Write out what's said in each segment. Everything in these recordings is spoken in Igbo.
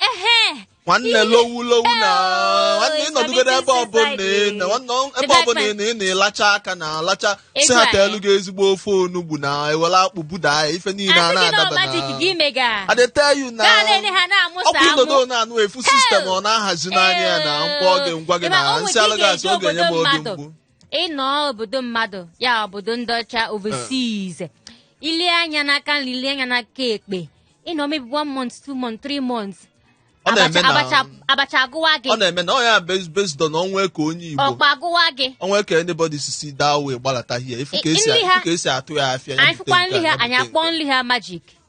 Ehe. nwanne lowu lowu na Oh, nwanne it's ịnọdụgoro ebe committing ọbụla suicide. ị nọ, nwanne The ebe black ọbụla man. ị nọ, ị na-alacha aka na-alacha si Ego ha anyị. teelu gị ezigbo ofe onugbu na ewere akpụ buda ya ife niile a Asị gị na na-adaba magic na gị mega. I dey tell you na Gaa na-ele ha na-amụsa ọkwa amụ. ịnọdụ na-anụ efu sistem ọ na-ahazi n'anya ya na mkpọ oge ngwa gị Ị ma, na o nwere nsị ike alụ gasị ịga ọ ga-enye m obodo obi mmadụ. mgbu ịnọ obodo mmadụ ya obodo ndị ọcha overseas ilie anya n'aka nri ilie anya n'aka ekpe ịnọ maybe one month two month three months Ọ na-eme abacha na- abacha abacha agụwa gị ọ na-eme na ọ ya base based on o nwe ka onye Igbo ọkpa agụwa gị o nwe ka anybody si si there wee gbalata here ifu ka I- esi nri ha- ifu ka esi atụ ya afịa ya anyị bute fụkwa nke a, nri ya ha anyị bute akpọọ nke a. nri ha majik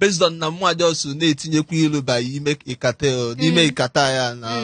based on na mụwa jọs na-etinyekwa ilu ba ime ikata o, n'ime ikata ya na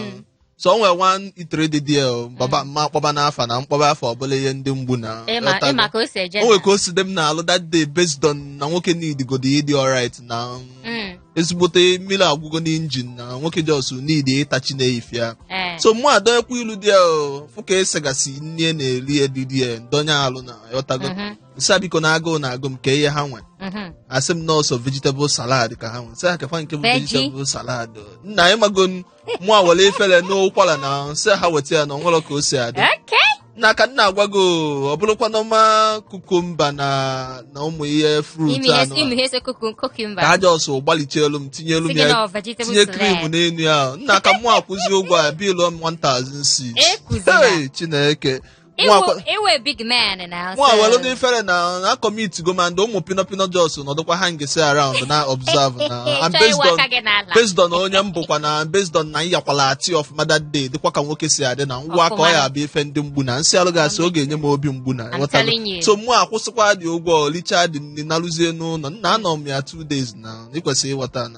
so o nwere one eatery dị dị o, baba mma akpọba n'afa na mkpọba afọ ọbụla ihe ndị mgbu na ịma ghọtago? ịma ka o si eje o nwere ka o si dị m n'alụ that day based on na nwoke needigo ịdị alright na Mm, ezigbote mmiri agwụgo n'injin na nwoke jọs need ịtachi na-eyife ya eh, so mụ adọyekwa ilu dị ya o, fụ ka esegasị nne na-eri edidi ya ndonye alụ na ghọtago mhm. nsị ha biko na agụụ na-agụ m kee ihe ha nwe Mhm. asị m na ọ sọ vegetable salad ka ha nwe nsị ha keekwa nke bụ Veggie. vegetable salad nna ị mago m mụ ewere ifere n'ụkwara na nsị ha weta ya na o nwelu ka o si adị Okay. na ka nna agwa gị o, ọ bụrụkwa normal kukumba na na ụmụ ihe fruit Imi ihe anụ imi ihe ese kuku ka cucumber. ha jọsụ gbalịchaalụ m tinyelu m Sị gị na ya ọ vegetable tinye salad. krim n'elu ya nna ka mụ akwụzi ụgwọ a bilu m 1006 Ekwuzila. Hey, chineke Ị wụ- ị wụ a big man now. nwa so- welu dị ifere na na kọmitigo ma ndị ụmụ pino pino jos nọdụkwa hangesi around na-observe na and Chọọ based iwe on aka gị n'ala. based on onye m bụkwa na based on na ịyakwala ati ọfụma that day dịkwa ka nwoke si adị na ngwa ka ọ Ọfụma. ya abụ ife ndị mgbu na nsị alụ gasị ọ ga-enye m obi mgbu na I'm ghọtago? telling you. so mụ akwụsịkwa dị ụgwọ licha dị nri narụzie n'ụlọ nna anọ m ya two days na ịkwesịrị ịghọta na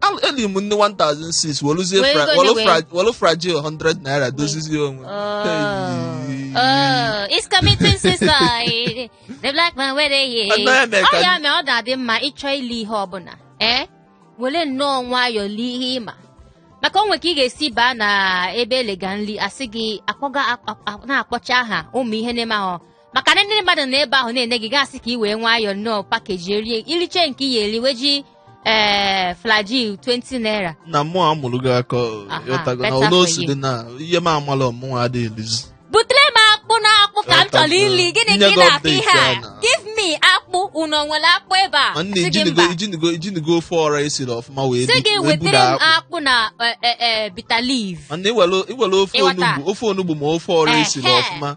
Al- eli m nni 1006 weluzie Were fra- ego welu onye fra- welu fragile 100 naira dozizie onwe Oh, Hey. oh, it's committing suicide. The black man wey dey here. Ọ naghị eme ka- Ọ ya mee ọ ga-adị mma ịchọ ili ihe ọbụla. Ee, were nnọọ nwayọọ lie ihe ị ma. Maka o nwere ka ị ga-esi baa na ebe elega nri asị gị akpọga akp- akp- na-akpọcha aha ụmụ ihe na-eme ahụ maka na ndị mmadụ na ebe ahụ na-ene gị gasị ka ị wee nwayọ nnọọ pakeji erie iriche nke ị ga-eri weji ee fragile 20 naira na mụwa amụrụ gị aka Aha, ịghọtago na better ụlọ for osi you. dị na ihe m amalọ mụnwa adịghị elizi butere m akpụ na akpụ ka m chọrọ ili gịnị ka ị na-akpọ ihe a give me akpụ unu o nwere akpụ ebe a ma nne Sị gị ijinigo mba. ijinigo ijinigo ofe ọra esiri ọfụma wee sị di- gị wee buru wetere m akpụ akpụ na e, e, e, bitter leaf ma nne i nwere i nwere ofe Ịghọta. onugbu ofe onugbu ma ofe ọra esiri Ehe. ọfụma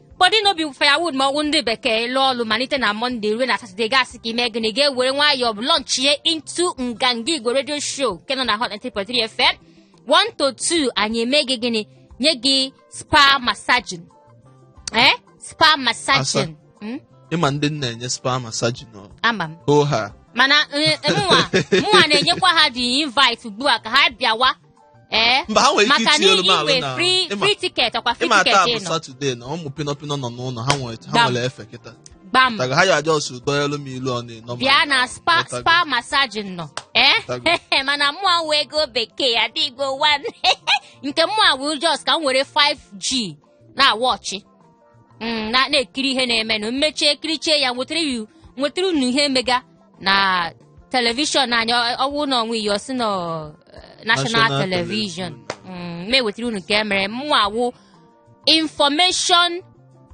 body no be firewood ma ọ wụ ndị bekee lụọ ọlụ malite na mọnde ruo na satọde gasị ka ime gịnị ga-ewere nwayọọ bụ lọnchie into nganga igwe redio show nke nọ na hot 93 fm 1 to 2 anyị eme gị gịnị nye gị spa massaging eh spa massaging Mm, ịma ndị na-enye spa masaji nọ ama m hoo ha mana eh, mụnwa mụnwa na-enyekwa ha the invite ugbu a ka ha bịawa ee mba ha nwere ike maka na itinyelu m alụ inwe na free ịma- free ticket ọkwa free ịma taa ticket bụ ị nọ satọde na ụmụ pinọpinọ nọ n'ụlọ ha nwere ha Gbam. nwere efe kịta gbam taga ha ya aja ọsụ dọnyelu m ilu ọnụ ịnọ bịa na spa spa massage nọ ee Tago. mana mụa wụ ego bekee adịgo one nke mụa wụ just ka m were 5g na-awa ọchị mm, na- na-ekiri ihe na-emenụ m mechie kirichie ya m wetara yu- m wetara unu ihe mega na telivishọn anyị ọ- ọ wụ na ọnwa iyi ọsị na ọ, eh, national National telivishọn Mm, m ewetara unu nke emere mụa wụ information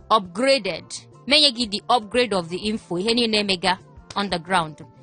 upgraded m enye gị the upgrade of the info ihe niile emega on the ground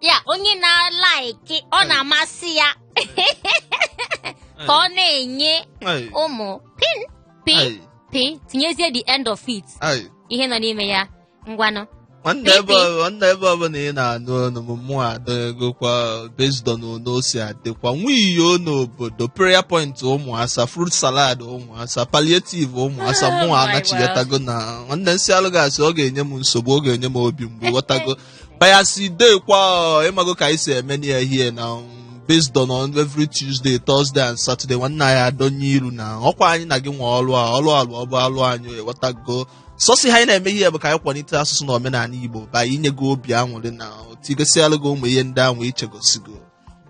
ya onye na-alaiki ọ na-amasị ya ka ọ na-enye Ai, ụmụ pin pin ai, pin tinyezie the end of it ai. ihe nọ n'ime ya ngwanụ nwanne Pipi. ebe ọ- nwanne ebe ọbụla ị na-anụ ọnụ m mụa adịgokwa based on one o si adịkwa nwiyo n'obodo prayer point ụmụ asa fruit salad ụmụ asa palliative ụmụ asa Ah, mụa anachighatago na nwanne nsị alụ ga-asị ọ ga-enye m nsogbu ọ ga-enye m obi mgbu ghọtago But as e dey kwa ọ, ịmago ka anyị si eme na ya here na um, based on on every Tuesday, Thursday and Saturday nwanne anyị adọnye iru na ọkwa anyị na gị nwe ọlụ a ọlụ alụ ọ bụ alụ anyị ịwọtago sọsọ ihe anyị na-eme here bụ ka anyị kwalite asụsụ na omenala Igbo by inye gị obi aṅụrị na to igosi alụ gị ụmụ ihe ndị ahụ ichezọsigo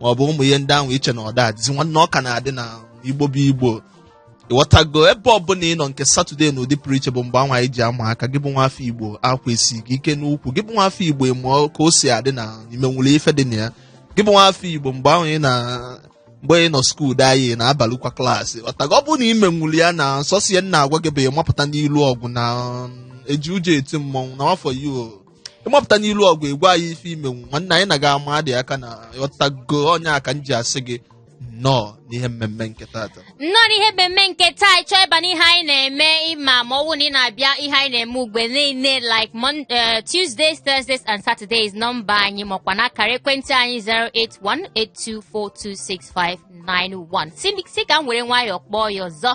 ma ọ bụ ụmụ ihe ndị ahụ iche na ọ da adịzi nwanne ọ ka na-adị na igbo bụ igbo ịghọtago ebe ọbụla ị nọ nke satọde na-adị pụrụ iche bụ mgbe anwa anyị ji ama aka gị bụ nwafọ igbo akwa esi gị ike n'ukwu gị bụ nwafọ igbo ịma ka o si adị na imenwulu ife dị na ya gị bụ nwafọ igbo mgbe ahụ ị na mgbe ị nọ skuul dị anyị na-abalịkwa klaasị ọtago ọ bụrụ na imenwulu ya na sọsọ ihe m na-agwa gị bụ ịmapụta n'ilu ọgụ na um, eji ụjọ eti mmọnwụ na afọ ya o ịmapụta n'ilu ọgụ ị gwa anyị ife ịma nwanne anyị na gị ama adị aka na ọtago ọ nya ka m ji asị gị nnọọ n'ihe mmemme nke tata nnọọ n'ihe mmemme nke taa ị chọọ ịba n'ihe anyị na-eme ịma ma ọ bụrụ na ị na-abịa ihe anyị na-eme ugbe niile like Mon- eh, Tuesdays, Thursdays and Saturdays nọmba anyị makwa na akara ekwentị anyị 08182426591 sị sị ka m were nwayọọ kpọọ ya ọzọ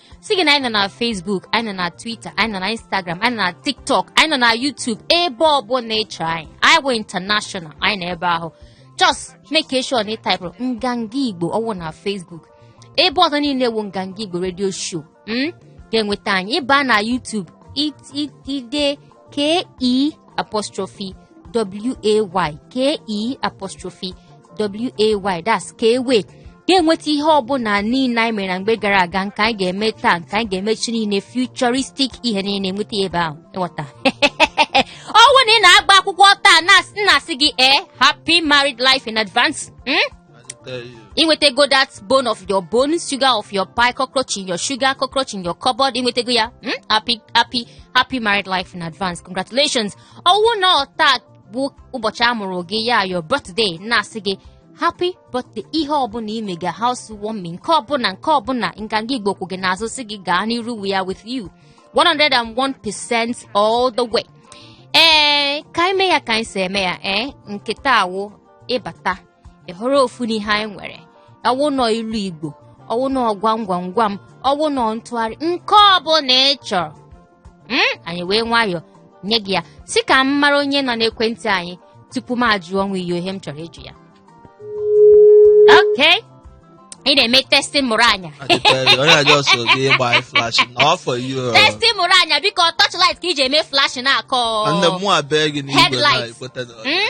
sị gị na anyị nọ na Facebook anyị nọ na Twitter anyị nọ na Instagram anyị nọ na TikTok anyị nọ na YouTube ebe ọbụla ị chọrọ anyị anyị bụ international anyị nọ ebe ahụ just make sure na ị taịpụrụ nganga Igbo ọ wụ na Facebook ebe ọzọ niile wụ nganga Igbo radio show m hmm? ga-enweta anyị ị baa na YouTube i dee k e apostrophe w a y k e apostrophe w a y that's Ke'way ga-enweta ihe ọbụla niile anyị mere na mgbe gara aga nke anyị ga-eme taa nke anyị ga-eme echi niile futuristic ihe niile enweta ya ebe ahụ ị ghọta ọ wụ na ị na-agba akwụkwọ taa na- na-asị gị ee happy married life in advance mm? i nwetego that bone of your bone sugar of your pie cockroach in your sugar cockroach in your cupboard i nwetego ya hmm? happy happy happy married life in advance congratulations ọ wụ na taa bụ ụbọchị a mụrụ gị ya your birthday na-asị gị happy birthday ihe ọbụla ị mega house warming nke ọbụla nke ọbụla Nganga Igbo kwụ gị n'azụ sị gị gaa n'iru we are with you 101% all the way ee eh, ka ime ya ka anyị si eme ya ee eh? nke taa wụ ị bata ị họrọ ofu n'ihe anyị nwere ọ wụ na ilu Igbo ọ wụ na gwam gwam gwam ọ wụ na ntụgharị nke ọbụla ị chọrọ Mm, anyị wee nwayọọ nye gị ya sị ka m mara onye nọ n'ekwentị anyị tupu m ajụọ nwa iyo ihe m chọrọ ịjụ ya okay ị na-eme testing mụrụ anya I dey tell you, onye na just so dey buy flash all for you. uh, testing mụrụ anya biko torchlight ka e ji eme flash na-akọ And the more I beg in Igbo, now Headlights. you put it on. Mm?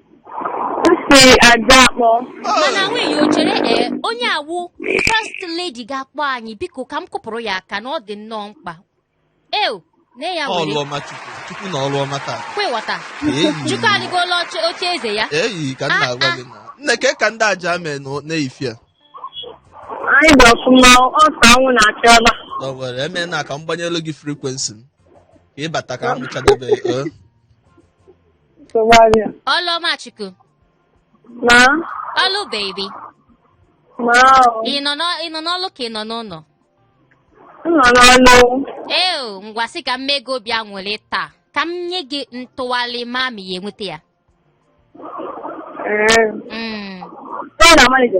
si aja akpọ mana nwunye o chere ee onye a wụ first lady ga-akpọ anyị biko ka m kụpụrụ ya aka na ọ dị nnọọ mkpa eo nne ya were ọlụọma chukwu chukwu na ọlụọma taa kwewata Eyi. chukwu adịgola oche oche eze ya eyi ka m na-agwa gị na nne ka ka ndị aja mee nụ na-eyifia anyị dị ọfụma ọsọ anwụ na-achị ọba na o nwere eme na ka m gbanyelu gị frequency m ka ị bata ka m mechadebe ee nsogbu adịghị. Ọlụọmachukwu. Ma, Ọlụ baby. ma ọ, Ị nọ n'ọ- ị nọ n'ọlụ ka ị nọ n'ụlọ. m nọ n'ọlụ. Ee o, ngwa sị ka m mee gị obi aṅụrị taa. Ka m nye gị ntụgharị ma ma ị ya-enweta ya. Ee, Mm. ọ na-amalite.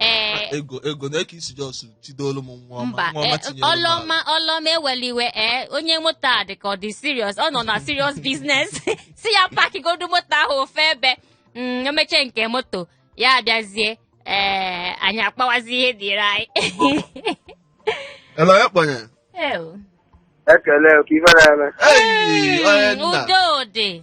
ee Ah, ego ego na-eke isi just chidolu m nwa ọma mba nwa ọma ee, tinyere m ala. Ọlụọma Ọlụọma ewela iwe ee onye moto a dị ka ọ dị serious ọ nọ na serious business sị ya pakigodu moto ahụ ofe ebe Mm, o mechaa nke moto ya abịazie ee anyị akpawazi ihe dịrị anyị Hello, ya kpọnye. Ew. ekele ka ife na-eme Hey, onye Mm, nna. udo dị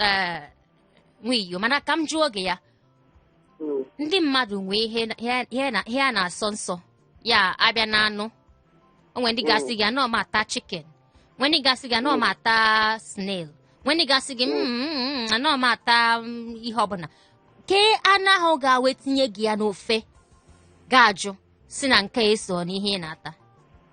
ee nwiyo mana ka m jụọ gị ya Mm. ndị mmadụ nwee ihe na- ihe- ihe na- ihe a na-asọ nsọ ya abịa na anụ o nwee ndị ga-asị gị anọ m ata chicken nwee ndị ga-asị gị anọ m ata snail nwee ndị ga-asị gị "Mm, mm, mm, anọ m ata mm, ihe ọbụla kee anụ ahụ ga-awụ etinye gị ya n'ofe ga-ajụ sị na nke a eso n'ihe ị na-ata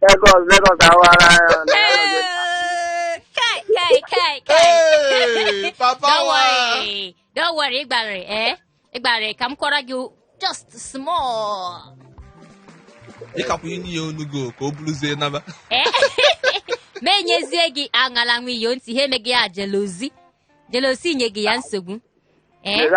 Lagos, Lagos awara ya. Hey, kai, kai, kai, kai. Hey, Papa Don't wa. worry. Don't worry, Igbare, eh? Igbare, ka m kọọra gị just small. Ịkapụ inye ya onu gị o, ka ọ bụrụzie naba. Eh? Ma enyezie gị aṅala nwiyo ntị, ha emeghị ya jealousy. Jealousy nye gị ya nsogbu. Eh? Lere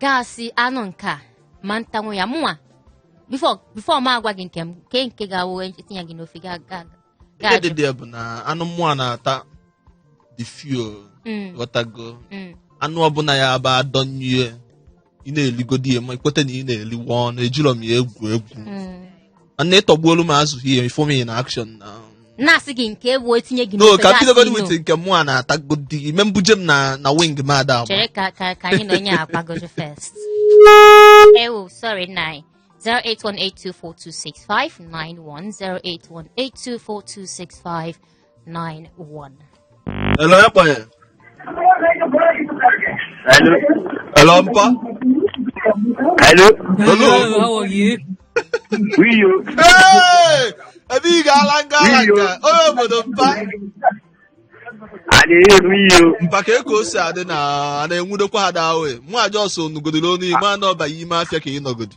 ga-asị anụ nke a ma ntanwu ya mụnwa before m agwa gị nke m nke nke ga-awụ etinye gị n'ofe ihe dị dị bụ na anụ mụ na-ata dị few mm. ghọtago mm. anụ ọbụla ya bụ adọnye ị na-eligodi ya ma ị kweta na ị na-eliwa anụ ejirọ m ya egwu egwu mm. nwanne ị tọgbuolu m azụ ihe ị fụ m na action na na-asị gị nke bụ etinye gị no n'ofe ka m ga-asị bidogodi ino. with nke mụ a na-atagodi i mee m buje m na na wing m ada agba chere ka ka ka anyị na onye a gbagoju first ewu sorry nna anyị 08182426591 081824265 91. Hello, ya kpọnye. Hello. Hello, mpa. Hello. Hello. Hello, how are you? We you. Hey! Ebe ị ga-ala nga ala nga. Onye obodo mpa. I dey hear we you. Mpa ka Eko si adị na a na-enwudokwa ha daa oe. Mụ just onugodoro onu ime anọ ọ bụ ime afịa ka ị nọgodi.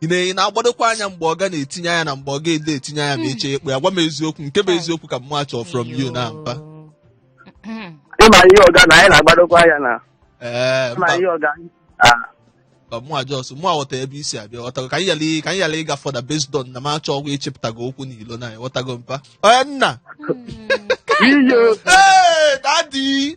ị na- ị na-agbadokwa anya mgbe ọ ga na-etinye anya na mgbe ọ ga-ede etinye anya ma eche ekpe ya gwa m eziokwu nke bụ eziokwu ka mụ achọ from you now mpa Mm. ịma ihe ọga na anyị na-agbadokwa anya na ee ịma mba ihe ọga Ah, ka mụ just mụ aghọta ebe i si abịa ghọtago ka anyị yala ka anyị yala ịga further based on na m achọghị ịchịpụtaga okwu n'ilo na ghọtago mpa onye nna Mm. iyo Hey, daddy!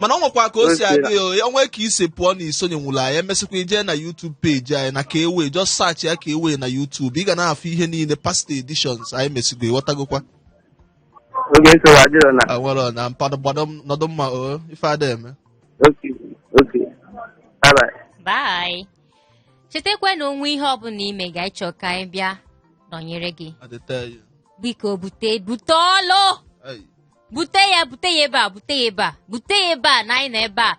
mana o nwekwa ka o si adị ya ya nwee ka i si pụọ na i sonyenwurọ anyị e mesịkwa i jee na YouTube page anyị na ka ewe just search ya ka ewe na YouTube ị ga na-afụ ihe niile past editions anyị mesigo ị ghọtagokwa oge nsogbu adịrọ na awọrọ na mpadụ gbado m- nọdụ mma o ife ada eme okay okay bye bye chetakwa na o nwee ihe ọbụla i mega ị chọọ ka anyị bịa nọnyere gị adịte ya biko bute bute ọlụ Ai. bute ya bute ya ebe a bute ya ebe a bute ya ebe a na anyị nọ ebe a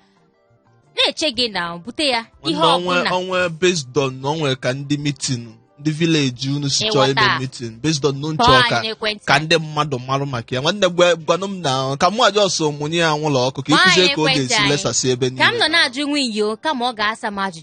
na-eche gị na bute ya ihe Nwanne, onwe ọbụla onwe based on na o nwe ka ndị meeting ndị village unu si chọọ ime Ịghọta. meeting based on nchọ kpọọ ka anyị n'ekwentị ka ndị mmadụ marụ maka ya nwanne gwa- gwanụ m na ka mụ aja ọsọ mụnye ya anwụlụ ọkụ ka Nwaanyị ịkụzie ka ọ ekwentị ga-esi anyị. lesasị ebe ka m niile nọ na-ajụ nwa iyo kama ọ ga-asa m ajụjụ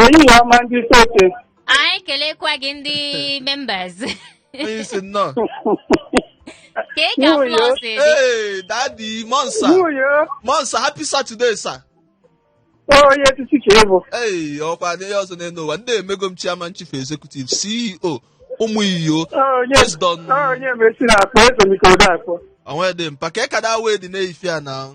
Ehihie ọma ndị sote. anyị kelekwa gị ndị members onye isi nnọọ kee ka Nwunye. flọs dị ee daddy monsa Nwunye monsa happy saturday sir onye etiti ka ịbụ. ee ọkwa na ihe ọzọ n'enu ụwa ndị emego m chairman chief executive ceo ụmụ iyo Onye Yes, Don. onye mesi na akpọ ezomike ụdọ akpọ. onwe dị mpa ka ekada wee dị na ife a na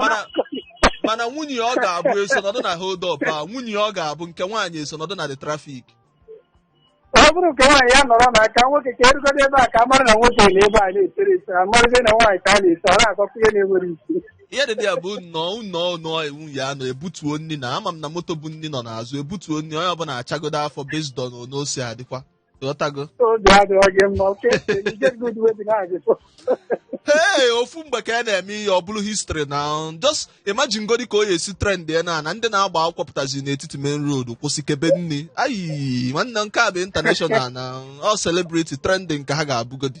Mana- mana nwunye ya ọ ga-abụ eso nọdụ na hold up a nwunye ya ọ ga-abụ nke nwaanyị eso nọdụ na the traffic ọ bụrụ nke nwaanyị ya nọrọ na aka nwoke ka erugodo ebe a ka a mara na nwoke nọ ebe a na-esere ese a marazie na nwaanyị ka a na-ese ọ na-akọkọ ihe na-enwerọ isi ihe dị ya bụ nnọọ nnọọ nnọọ iwu ya nọ ebutuo nri na ama m na moto bu nri nọ n'azụ ebutuo nri onye ọbụla achagodo afọ based on onosi adịkwa ghọtago obi adịghị gị mma okay you get good way dị na-agị hey ofu mgbe ka a na-eme ihe ọ bụrụ history na just imagine godi ka ọ ya-esi trend ya na na ndị na-agba akwụkwọ pụtazi n'etiti main road kwụsị kebe nri ayi nwanne nke a bụ international na ọ celebrity trending ka ha ga-abụgodi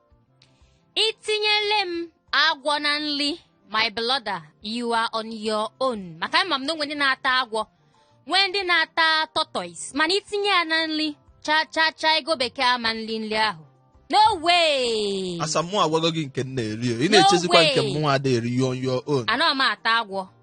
itinyele m agwọ na nri my brother you are on your own maka ama m na o nwe ndị na-ata agwọ nwee ndị na-ata tortoise mana itinye ya na nri cha cha cha ego bekee ama m eri nri ahụ no way asa mụ agwago gị nke m na-eri o. ị No na-echezikwa nke way. mụnwa ada eri on your own anọ m ata agwọ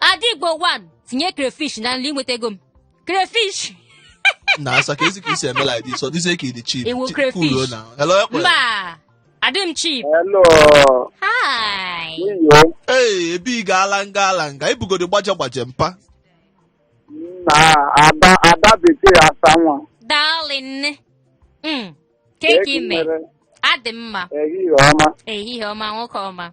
Adigbo 1 tinye crayfish na nri i nwetago m crayfish na asa kezi ka i si eme like this ọ dịzie ka ị dị cheap Ewu crayfish. na hello ekwe mba adị m cheap Hello, hi iyo, ee ebe ị ga-ala nga ala nga ibugodi gbaje gbaje mpa na ada ada bekee asa nwa. darling Mm, kee ka i me Ekwunyere adị m mma ehihie ọma. ehihie ọma nwoke ọma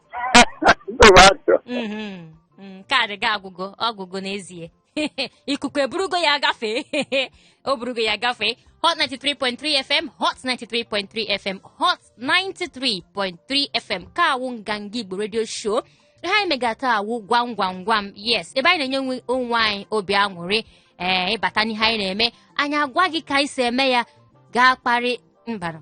Nsogbu adịrọ. Mhm, mm, kaadị gị agwụgo ọgwụgo n'ezie ikuku eburugo ya gafee o burugo ya gafee hot 93.3 fm hot 93.3 fm hot 93.3 fm nke a wụ nganga igbo radio show ihe anyị megha taa wụ gwam gwam gwam yes ebe anyị na-enye onwe anyị obi aṅụrị ee ị bata n'ihe anyị na-eme anyị agwa gị ka anyị si eme ya ga-akpọrị number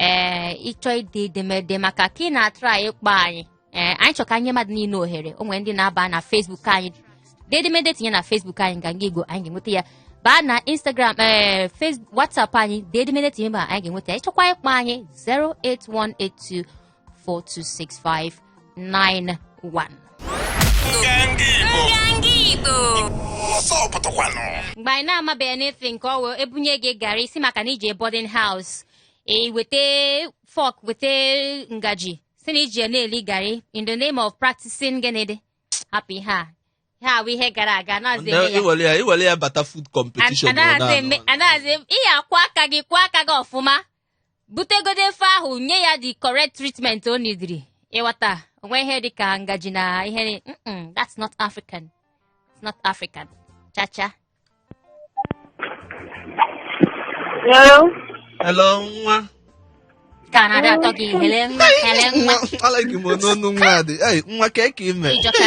ee ị chọọ ide edemede maka ka ị na-atry ịkpọ anyị ee anyị chọrọ ka anyị nye mmadụ niile ohere o nwere ndị na-aba na Facebook anyị dee edemede tinye na Facebook anyị nganga igbo anyị ga-enweta ya baa na Instagram ee Facebook WhatsApp anyị dee edemede tinye ma anyị ga-enweta ya ị chọkwa ịkpọ anyị 08182 mgbe anyị na-amabeghị anything nke ọ wụ ebunye gị gari ị sị maka na ị je boarding house e weta fork weta ngaji si na ị ji na-eli gari in the name of practicing gịnịdị hapụ ihe a ihe a wụ ihe gara aga i were ya bata food competition anaghịzi ihe a kwọọ aka gị kwọọ aka gị ọfụma butegodo ofe ahụ nye ya the correct treatment o nidiri ịghọta o nwe ihe dị ka ngaji na ihe ni- Mm-mm, that's not african it's not african chacha Hello? Hello, nwa. ka a na-adị atọ gị hello nwa hello nwa Nwa, alaghị m n'ọnụ nwa dị. Ei, nwa kee ka i me. ịjọka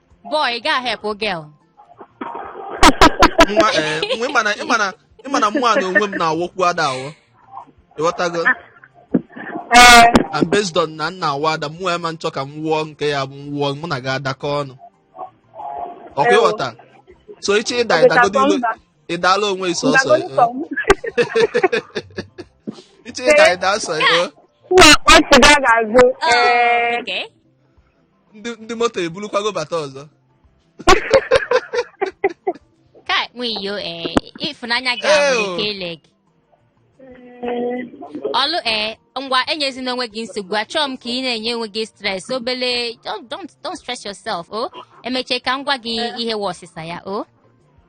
boy ị gaghị helpụ girl nwa ee nwa ị ma na ị ma na ị ma na mụwa na onwe m na-awụkwu ada awụ ịghọtago Ee, and based on na nna awụ ada mụ ema nchọ ka m wụọ nke ya bụ m wụọ mụ na gị adakọ ọnụ ọkwa ịghọta so iche ịda ịdagodo ilo ịdala onwe gị sọsọ ndagonu eh. sọm. iche ịda ịda sọ eh. Nna akpọ sịga ga-azụ. Oh, Ee, okay. ndị ndị moto ebulukwago bata ọzọ Kai, nwiyo, eh, ịfụnanya gị Ew. ahụ ike ile gị. Ọlụ eh, ngwa enyezina onwe gị nsogbu achọọ m ka ị na-enye onwe gị stress obele don't, don't, don't stress yourself o emechee ka m gwa gị ihe wụ ọsịsa ya o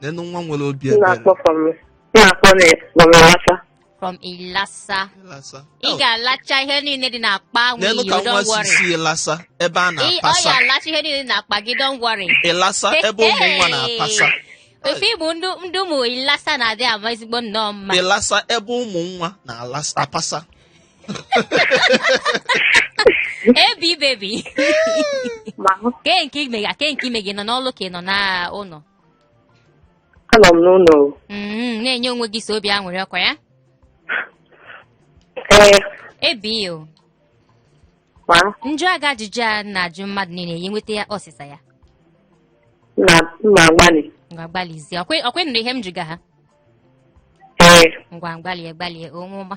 nenụ nwa nwere obi ebere na-akpọ from na-akpọ na from Ilasa. from ilasa Ịlasa. ị ga-alacha ihe niile dị n'akpa ahụ nenụ ka iyo nwa don't si worry si ịlasa ebe a Ị- ọ ya na-apasa alacha ihe niile dị n'akpa gị don't worry ịlasa ebe ụmụ nwa na-apasa ofe ịbụ ndị ndị ụmụ ilasa na-adị ama ezigbo nnọọ mma ịlasa ebe ụmụ nwa na-apasa Ebi baby Ma hụ kee nke ime ya kee nke i me ị nọ n'ọlụ ka ị nọ n'ụlọ anọ m n'ụlọ Mm, na-enye onwe gị sọ obi aṅụrị ọkwa ya ee Ebi o ma m jụọ gị ajụjụ a na-ajụ mmadụ niile ị ya-enweta ya ọsịsa ya na m ma-agbalị ngwa gbalịzie ọkwa ọkwa ị nụrụ ihe m jụga ha ee ngwa gbalịa gbalịa o nwa ọma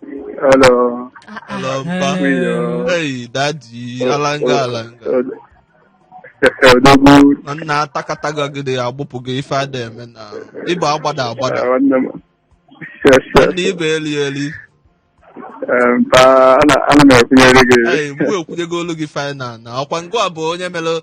Hello. Ah, ah. Hello, mpa. Hello. Hey, daddy, alanga alanga. Odogwu. Na nna atakataga gị dị agbụpụ gị ife a da-eme na ị bụ agbada agbada. Nwanne m. Yes, yes. Ndị ibe eli eli. Eh, Mpa, ana ana m ekwunyere gị. Hey, mgbe ekwunyego olu gị final na ọkwa ngwa bụ onye mere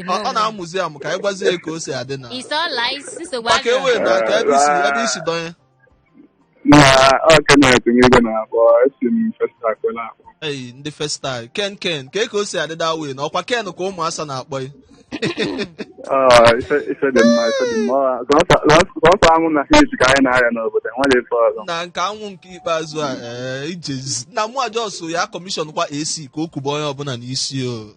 ọ ọ na-amụzi amụ ka anyị gwazie ya ka o si adị na It's all lies. Nsogbu maka adịrọ. ewe na ka ebe isi ebe isi dọnye na ọ Kenneth Nwigwe na-akpọ esi m festa kwela akpọ eyi ndị festal ken ken ka ka o si adị da wee na ọkwa ken ka ụmụ asa na-akpọ ya Ah, ife ife dị mma ife dị mma Ọ- sọsọ- sọsọ- sọsọ anwụ na heat ka anyị na-arịa n'obodo nwere ife ọzọ na nke anwụ nke ikpeazụ a ee ijezi na mụ ajọsụ ya commission kwa AC ka o kuba onye ọbụla n'isi o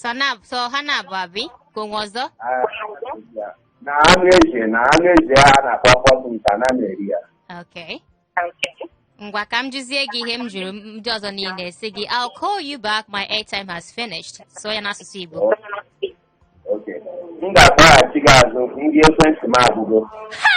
sọ na sọ ha na-abụ abi ka onwe ọzọ na anụ ezi na anụ ezi a na-akpọ ọkpọtụ nta na na-eri ya okay ngwa ka m jụzie gị ihe m jụrụ ndị ọzọ niile a sị gị I'll call you back my airtime has finished sụọ ya n'asụsụ Igbo okay m ga-akpọghachi gị azụ nri ekwentị m agwụgo ha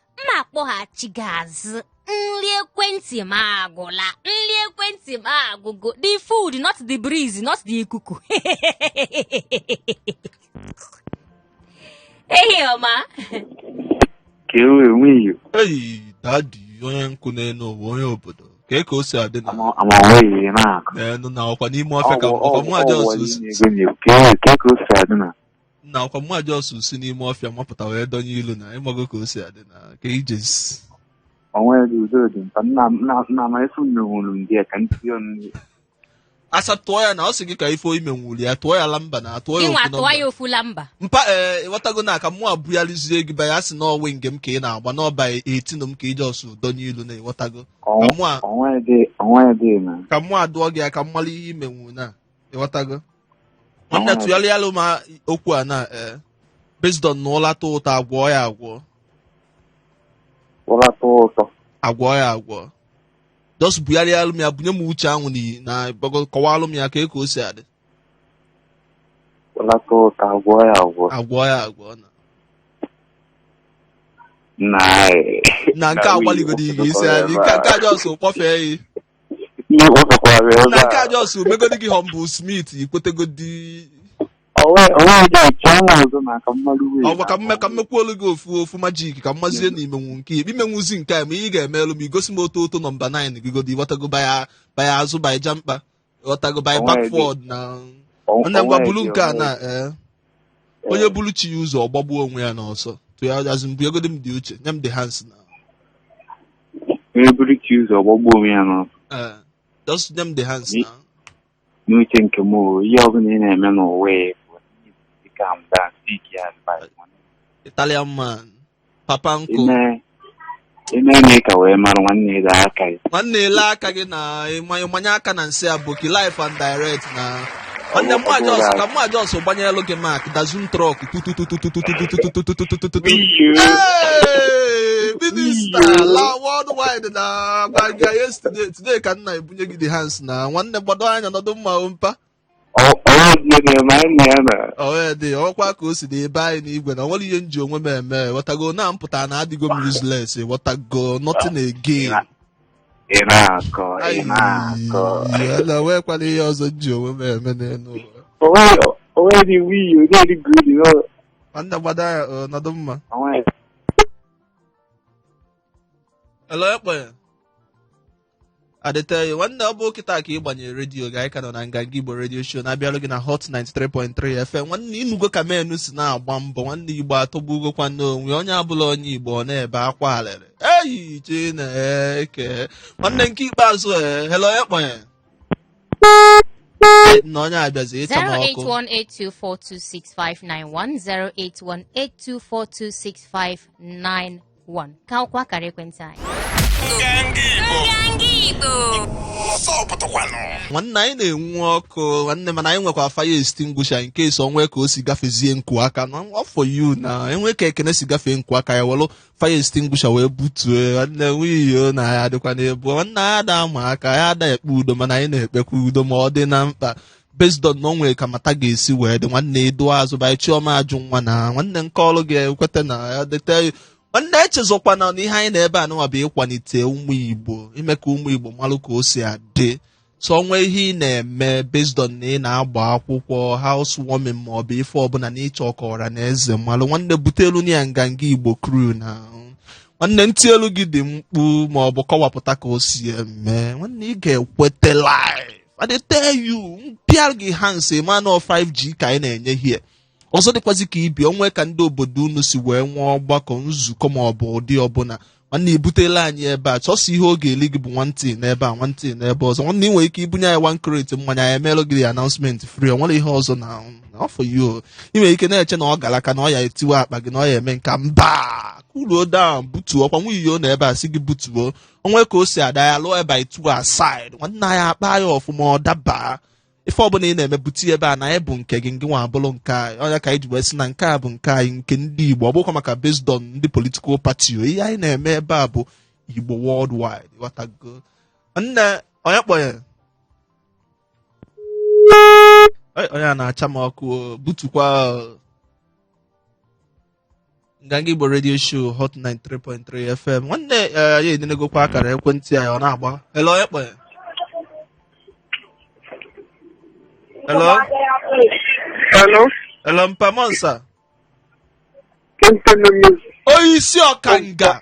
m akpọghachi gị azụ nri ekwentị m agwụla nri ekwentị m agwụgo the food not the breeze not the ikuku ehi ọma ka e wee nwee iyo eyi daddy onye nkụ n'elu ụwa onye obodo kee ka o si adị na ama ama nweghị na-akụ n'elu na ọkwa n'ime ọfịa ka ọkwa mụ ajọsụ si ka e wee ka e ka o si adị na na ọkwa mụ ajọsụ si n'ime ọfịa mapụta wee dọnye ilu na ịmago ka o si adị na ka ijezi onwe dị udo dị mpa nna nna nna ma efu menwuru m gị ka ntị ọnụ asa tụọ ya na ọ sị gị ka ife imenwuru ya tụọ ya lamba na tụọ ya ịnwa ofu tụwa ya nọmba ofu lamba mpa ee ịghọtago na ka mụ abughalizie gị baya sị na ọ wing m ka ị na-agba n'over 18 m ka ị jọsụ dọnye ilu na ịghọtago ka mụ a onwe dị onwe dị na ka mụ adụọ gị ya ka m mara ihe imenwu na ịghọtago nwanne tụgharịalụ m okwu a na ee based on na ụla tọọ ụtọ agwọ ya agwọ ụra tọọ ụtọ agwọ ya agwọ just bugharịalụ m ya bunye m uche anwụ n'iyi na gbago kọwalụ m ya ka e ka o si adị ụra tọọ ụtọ agwọ ya agwọ agwọ ya agwọ na na na nke agbaligodi ị ga-esi adị nke nke a jọs kpọfee ya Ndị Igbo sọkwara ya na nke a ebe a. jọs megodi gị Humble Smith ikwetegodi Onwe onwe dị iche ọnwa ọzọ na ka mmadụ wee. ọgwa ka mme ka mmekwuolu gị ofu ofu magic ka mmazie na imenwu nke ya imenwuzi nke a ma ihe ị ga-emelụ m igosi m otu otu nọmba 9 gị godi ịghọtago baya baya azụ baya ja mkpa ịghọtago baya Onwe dị. backward na Onwe- onye ngwa onwe bulu dị, nke a onwe na dị. ee onye bulu chi ya ụzọ ọgbagbuo onwe ya n'ọsọ tụ ya azụ bunyegodi m the uche nye m the hands now onye bulu chi ụzọ ọgbagbuo onwe ya n'ọsọ. Eh, just nye m the hands Ni- now. N'uche nke m o, ihe ọbụla ị na-eme n'ụwa ya bụ ị calm down, seek your advice. Italian man. Papa Ị nkụ. mee- ị mee na ị ka wee mara nwanne ele aka gị. Nwanne ele aka gị na ịma- ịmanye aka na nsị aboki life and direct na Onye mma Jos ka m ma just gbanyelụ gị Mack dozen truck tututu. Hey, minista la worldwide na gbanja yesterday today ka m na-ebunye gị the hands na nwanne gbado anya nọdụ mma o mpa ọwee dị ọkwa ka o si dị ebe anyị n'igwe na o nwere ihe m ji onwe m eme ghọtago na mpụta na adịgo m useless ghọtago nothing again ị na-akọ ị na-akọ Ayi, na nwekwala ihe ọzọ m ji onwe m eme n'elu ụwa. onweghị onweghị wiyi onyeghị gridi Nwanne gbado anya nọdụ mma. onweghị Hello, ekpere. Adịte nwanne ọ bụ kịta ka ị gbanyere redio gị anyị ka nọ na nganga Igbo redio show na-abịalụ gị na Hot 93.3 FM nwanne ịnụgo ka menu si na-agba mbọ nwanne Igbo atọgbugokwa n'onwe onye abụla onye Igbo ọ na-ebe akwa alịrị eyi chineke nwanne nke ikpeazụ e hello onye kpọnye na onye abịazi ịcha m ọkụ 08182426591 08182426591 ka bụkwa akara ekwentị anyị Ndị Igbo Ndị Igbo ọzọ pụtakwanụ nwanne anyị na-enwu ọkụ nwanne mana anyị nwekwa fire extinguisher in case o nwee ka o si gafezie nku aka na for you na e nwee ka ekene si gafee nku aka anyị welu fire extinguisher wee butue nwanne nwayọ na ya adịkwa n'ebu nwanne anyị ada ama aka anyị ada ekpe udo mana anyị na-ekpekwa udo ma ọ dị na mkpa based on na o nwere ka matter ga-esi wee dị nwanne ịdụ azụ by Chioma Ajunwa na nwanne nke ọrụ ga-ekweta na ya dịte nwanne echezọkwana na ihe anyị nọ ebe anụnwa bụ ịkwalite ụmụ igbo ime ka ụmụ igbo malụ ka o si adị so o nwee ihe ị na-eme based on na ị na-agba akwụkwọ housewarming ma ọ bụ ife ọbụla na ị chọ ka ọra na eze malụ nwanne butelu anyị ya nganga igbo crew na nwanne m tielu gị the mkpu ma ọ bụ kọwapụta ka o si eme nwanne ị ga-ekwete live I dey tell you mpịa gị hands ma na 5G ka anyị na-enye here ọzọ dịkwazi ka ibe ya o nwee ka ndị obodo unu si wee nwee ọgbakọ nzukọ ma ọ bụ ụdị ọbụla nwanne i butelu anyị ebe a sọsọ ihe ọ ga-eli gị bụ nwantị n'ebe a nwantị n'ebe ọzọ nwanne ị nwere ike ibunye anyị one crate mmanya anyị emeelụ gị announcement free ọ nwere ihe ọzọ na for you ị nwere ike na-eche na ọ gara aka na ọ ya-etiwa akpa gị na ọ ya-eme nka mba cool down butuo ọkwa nwunye iyo na ebe a si gị butuo o nwee ka o si ada ya lụọ ebe itu aside nwanne anyị akpa ya ọfụma ọ daba ife ọbụla ị na-eme bute ya ebe a na anyị bụ nke gị ngị nwa abụrụ nke anyị ọ ya ka anyị ji wee sị na nke a bụ nke anyị nke ndị igbo ọ bụkwa maka based on ndị political party o ihe anyị na-eme ebe a bụ igbo worldwide ghọtago nne onye kpọnye Ei, onye a na-acha m ọkụ o, butukwa o. nganga igbo radio show hot 93.3 fm nwanne eh, anyị enenegokwa akara ekwentị anyị ọ na-agba hello ekpe hello Hello, hello mpa ụmụasa onye isi ọkanga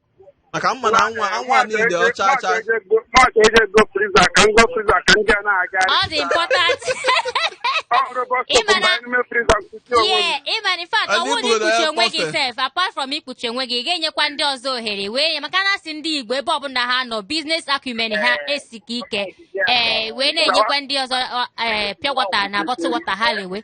maka mma na anwa anwa niile ọcha ọcha Maazị eje go freezer ka ngo freezer ka ndị a na-aga ọ dị important ọhụrụ bọs Ị ma na- n'ime freezer nkuchi onwe m. yeah ịma na in fact Anyị ọwụ na buru na ikpuchi ya onwe gị kpọfe. sef apart from ikpuchi onwe gị ị ga-enyekwa ndị ọzọ ohere wee nye maka na a sị ndị igbo ebe ọbụla ha nọ business acumen ha esika ike ee wee na-enyekwa ndị ọzọ ọ, ee, pure water na bottle water ha lewe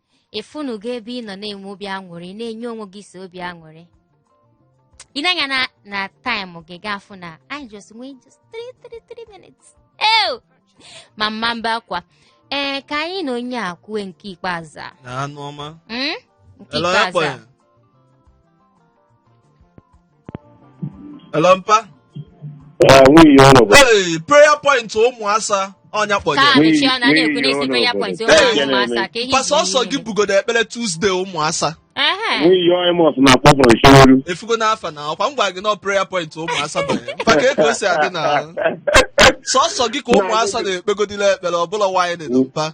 ịfụnụgo ebe ị nọ na-enwe obi aṅụrị na-enye onwe gị so obi aṅụrị ị nee anya na na time gị ga-afụ na anyị just nwee just 3 minutes ew ma mma mba akwa ee ka anyị na onye a kwue nke ikpeazụ a na anụ ọma Hmm? nke Hello, ikpeazụ a Ekponya. Hello, mpa. Ah, nwunye ụlọ bụ Hey, prayer point ụmụasa ọnya Ka kpọnye. anyị N'ihi- chịa na a na-ekwu n'ihi n'isi prayer ọnọdụ. point Ee, ụmụ ahụ ma asa ka ihe Mpa sọsọ gị bugodo ekpere Tuesday ụmụasa. Ehe. nwunye onye mọs na-akpọ from Shoruru. Efugo n'afa na ọkwa m gwara gị na ọ prayer point ụmụasa banye. Mpa etu o si adị na sọsọ gị ka ụmụasa na-ekpegodila ekpere ọbụla why na mpa.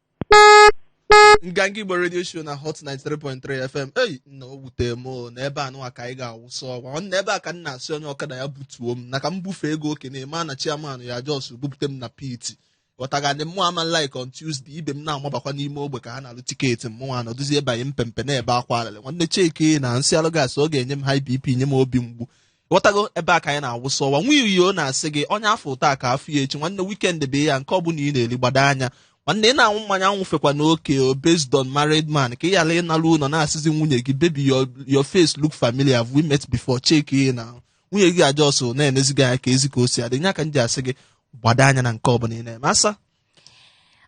nganga igbo radio show na hot 93.3 fm ei nna o wute m o, na ebe anụwa ka anyị ga-awụsa ọgwa ọ na ebe a ka m na-asị onye ọkada ya butuo m na ka m bufee ego oke na-eme a na chairman ya just bupute m na piti ghọtago mmụwa ama like on tuesday ibe m na-amabakwa n'ime ogbe ka ha na-alụ ticket mmụ anọdụzie banye mpempe na-ebe akwa alịlị nwanne checkie na nsị alụ gasị ọ ga-enye m high bp nye m obi mgbu ghọtago ebe a ka anyị na-awụsa ọwa nwa iyo na-asị gị onye a fụ taa ka a fụ ya echi nwanne weekend bịa nke ọ bụla ị na-eri gbado anya nwanne ị na-anwụ mmanya anwụfekwana oke o based on married man ka ị ghara ịnalụ ụlọ na-asịzi nwunye gị baby your your face look familiar have we met before checkie na nwunye gị a-just na-enezi gị anya ka ezi ka o si adị nya ka m ji asị gị gbado anya na nke ọ bụla ị na-eme asa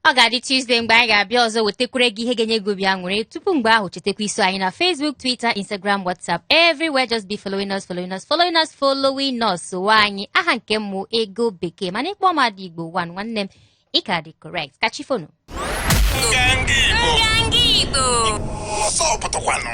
ọ ga-adị Tuesday mgbe anyị ga-abịa ọzọ wetakwere gị ihe ga-enye gị obi aṅụrị tupu mgbe ahụ chetakwa iso anyị na Facebook Twitter Instagram WhatsApp everywhere just be following us following us following us following us sowe anyị aha nke mmụ ego bekee mana ị kpọọ m Ada Igbo one nwanne m ị ka dị correct ka chi foonụ Nganga Igbo. Nganga Igbo. Ọsọ pụtụkwanụ.